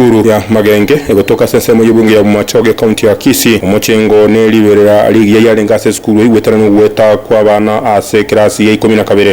Uru ya Magenge, egotoka ase ensemo y'ebungo ya Bomachoge, ekaunti ya Kisii. Omochengo ne riberera rigiya yarenge ase esukuru eigwetane nogweta kw'abana ase ekerasi ya ikomi na kabere.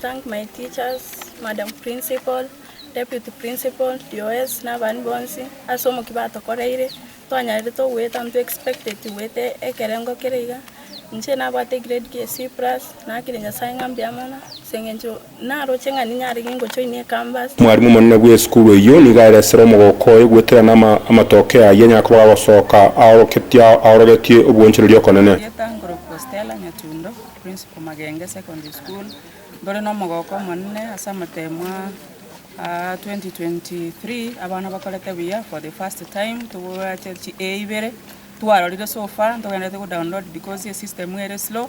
thank my teachers, madam principal, deputy principal, DOS na abandi bonsi ase omoki batokoreire twanyarete ogoeta on to expected goeta ekerengo kere iga. Inche nabwate egrade gie C+ naakire Nyasae ng'a mbuya mono ase eng'encho Naroche ng'a ninyare gengochoinia ekambasi. Mwarimu omonene bw'esukuru eyio nigo aresere omogooko oye gweterana amatokeo ayio anyare koba gagosoka aorogetie obwoonchoreria okonene. Ng'eta nkorokwa Stella Nyatundo, Principal Magenge Secondary School, ntore nomogooko omonene ase amatemo a 2023 abana bakorete buya for the first time tobwate chi A ibere twarorire so far ntogenderete go download because esystem ere slow.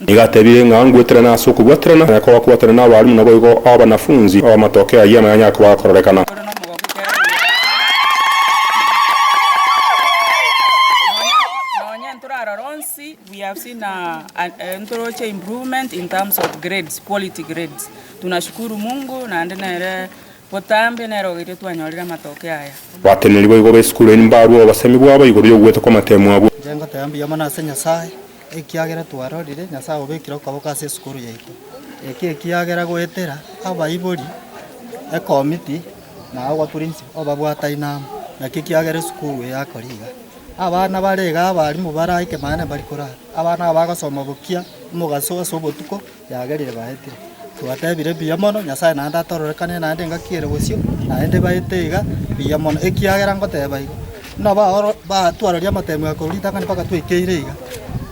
Nigo atebire ng'a ngweterane ase okobwaterana, na koba kwaterana n'abalimu naboigo abanafunzi, amatokeo ayio amayonye akoba agakororekana. Botambe nere ogeire twanyorire amatoke aya. Batenenerigwe igoro esukuru eye mbarwe obosemi bwabo igoro y'ogwetwa kw'amatemo abwo. Inche ngoteba mbuya mono ase Nyasae, ekiagera twarorire Nyasae obekire okoboko ase esukuru yaito. Eki ekiagera goetera abaibori, ekomiti, na abapurinsi obabwataine amo, naki ekiagera esukuru eye akore iga. Abana bare iga abarimu baraike maene mbari korara, abana abagosoma bokia omogaso ase obotuko, Yagerire baetire. Twatebire mbuya mono, Nyasae naende atororekane naende engaki ere bosio, naende baete iga mbuya mono, ekiagera ngoteba igo, buna baoro batwaroria amateemwa ya korwa ritang'ani mpaka twaikeire iga,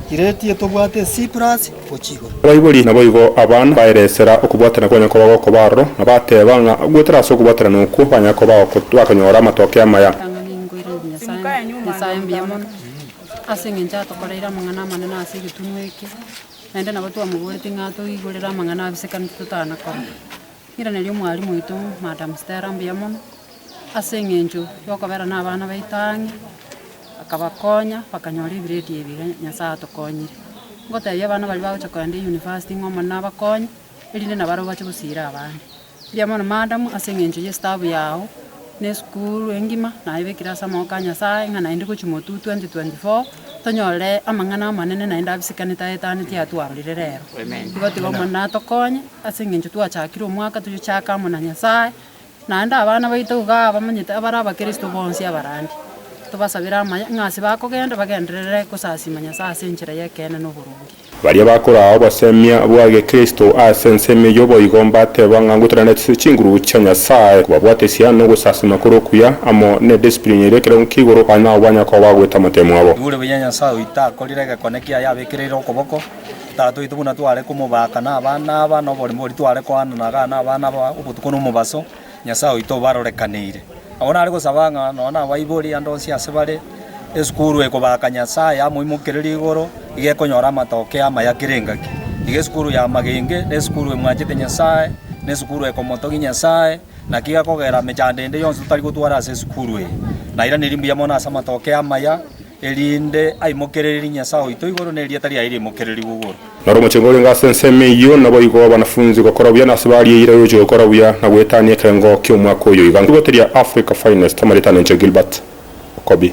Kireti etobwate ensii plus gochia igoro. Abaibori naboigo abana baeresera okobwatana kwanyare koba gokoba aroro, na bateba ng'a goetera ase okobwatana okwo banyare koba bagokonyora amatokeo amaya. Ritang'ani inkoiranie Nyasae, Nyasae mbuya mono, ase engencho atokoreire amang'ana amanene ase egetunwa eke. Naende nabo twamoboretie ng'a toigorere amang'ana abisekanete totana korora. Irane ri'omwarimu oito, Madam Stella, mbuya mono, ase eng'encho yokobera nabana baito ang'e, akabakonya bakanyora ebiredi ebi iga Nyasae atokonyire. Ngotebia abana baria bagocha kogenda University ng'a omonene abakonye, erinde nabo aro bache gosiira abande. Rigia mono Maadamu ase engencho y'esitabu yao na esukuru engima naebekire ase amaboko a Nyasae ng'a naende gochia Motu 2024 tonyorere amang'ana amanene naende abisikane taetani tiatwarorire rero. Igo tiga Omonene atokonye ase engencho twachakire omwaka toyochaka amo na Nyasae naende abana baito iga abamanyete abare abakristo bonsi abarandi. Tobasabere amaya ng'a ase bakogenda bagenderere gosasima Nyasae ase enchera y'ekeene na oboronge. Baria bakoraa obosemia bwa gekristo ase ensemo eyio boigo mbateba ng'a ngotera netisie chinguru chia Nyasae, kobabwatesia nogosasima kore okuya, amo nediscipline eria ekerengo kia igoro, babe nababanya koba bagoeta amatemo abo. Igure buya Nyasae oito akorire egekone kiaye abekereire okoboko Tata oito buna tware komobaaka nabana aba noborimo boria tware koanana agane abana aba obotuko nomobaso. Nyasae oito obarorekaneire. Agwo nare gosaba ng'a nonya nabaibori ande onsi ase bare esukuru ekobaaka Nyasae yamoimokereria igoro, iga ekonyora amatokeo amaya kera engaki. Iga esukuru y'amagenge nesukuru emwanchete Nyasae, nesukuru ekomotogia Nyasae. Naki iga kogera mechando ende yonsi totari gotwara ase esukuru eye, nairaneiri mbuya mono ase amatokeo amaya. Erinde aimokererie Nyasae oito igoro, na erieta riaye riaimokererigwe igoro. Na ore omochengo orenge ase ensemo eyio, naboigo abanafunzi gokora buya, na ase baria eira yochia gokora buya, na goetania ekerengo ki'omwaka oyo iga. Rigote ria Africa Finest, amaretano inche Gilbert Okobi.